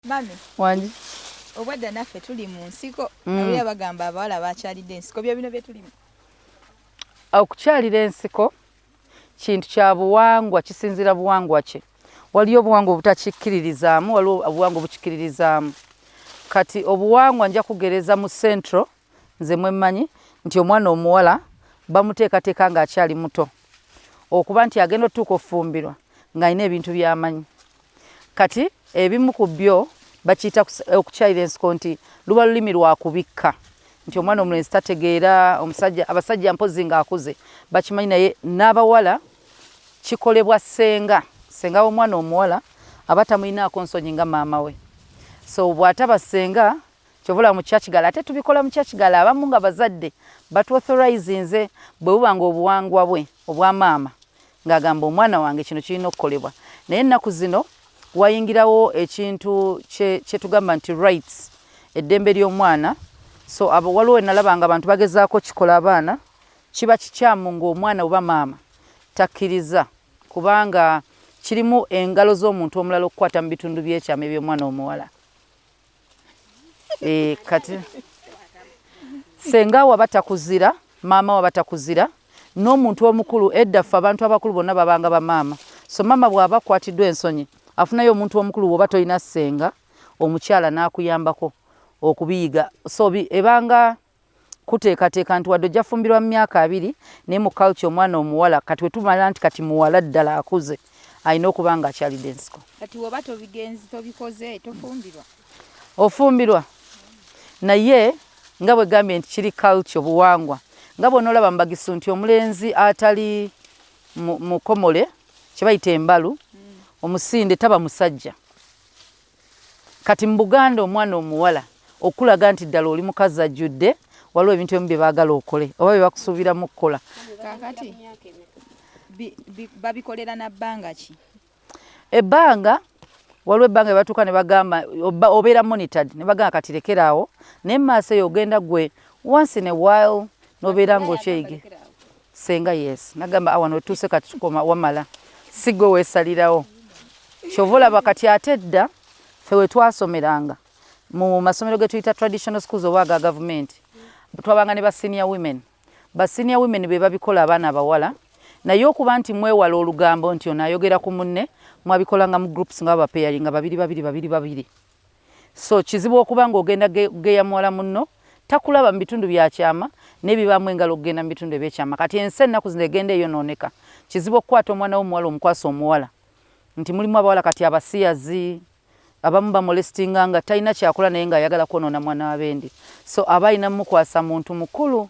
Mami. Wangi. Obwedda naffe tuli mu nsiko. Mm. Nawulira bagamba abawala bakyalidde ensiko byo bino bye tulimu. Okukyalira ensiko kintu kya buwangwa kisinzira buwangwa kye. Waliyo obuwangwa obutakikkiririzaamu, waliwo obuwangwa obukikkiririzaamu. Kati obuwangwa nja kugereza mu central nze mwemmanyi nti omwana omuwala bamuteekateeka ng'akyali muto okuba nti agenda otuuka ofumbirwa ng'alina ebintu by'amanyi. Kati ebimu ku byo bakiyita okukyayira ensiko nti luba lulimi lwa kubikka nti omwana omulenzi tategeera omusajja abasajja mpozi ng'akuze bakimanyi naye n'abawala kikolebwa ssenga ssenga w'omwana omuwala aba tamulinaako nsonyi nga maama we so bw'ataba ssenga kyovola mu churchgal ate tubikola mu churchgal abamu nga bazadde batuauthorizinze bwe buba nga obuwangwa bwe obwa maama Ng'agamba omwana wange kino kirina okukolebwa naye ennaku zino wayingirawo ekintu kye kye tugamba nti rights eddembe ly'omwana so abo waliwo wenalaba nga abantu bagezaako kikola abaana kiba kikyamu ng'omwana oba maama takkiriza kubanga kirimu engalo z'omuntu omulala okukwata mu bitundu by'ekyama eby'omwana omuwala eh, kati senga waba takuzira maama waba takuzira n'omuntu omukulu edda ffe abantu abakulu bonna babanga bamaama so maama bw'aba akwatiddwa ensonyi afunayo omuntu omukulu woba tolina senga omukyala n'akuyambako okubiyiga so ebanga kuteekateeka nti wadde ojja fumbirwa mu myaka abiri naye mu culture omwana omuwala kati wetumala nti kati muwala ddala akuze alina okuba nga akyalidde ensiko kati woba tobigenzi tobikoze tofumbirwa ofumbirwa naye nga bwegambye nti kiri culture obuwangwa nga bwonaolaba mubagisu nti omulenzi atali mukomole kyebayita embalu mm. omusinde taba musajja Kati mu Buganda omwana omuwala okukulaga nti ddala oli mukazi ajjudde, waliwo ebintu ebimu bye baagala okole oba bye bakusuubiramu okukola. Kaakati babikolera na bbanga ki? Ebbanga waliwo ebbanga batuuka ne bagamba obeera monitored ne bagamba kati lekera awo naye mu maaso eyo ogenda gwe once in a while nobeera ng'okyeyige Ssenga yes nagamba awano otuuse kati tukoma wamala sigwe wesalirawo kyova olaba kati ate edda fe wetwasomeranga mu masomero getuyita traditional schools oba aga gavumenti twabanga ne ba senior women ba senior women be babikola abaana abawala naye okuba nti mwewala olugambo nti ono ayogera ku munne mwabikolanga mu groups nga babapeyaringa babiri babiri babiri babiri So kizibu okuba ng'ogenda geya muwala munno takulaba mu bitundu bya kyama n'ebibaamu engalo okugenda mu bitundu eby'ekyama. Kati ensi ennaku zino egenda eyonooneka. Kizibu okukwata omwana w'omuwala omukwase omuwala. Nti mulimu abawala kati abasiyazi, abamu bamolestinganga talina kyakola naye ng'ayagala kwonoona mwana wa bendi. So aba alina mmukwasa muntu mukulu.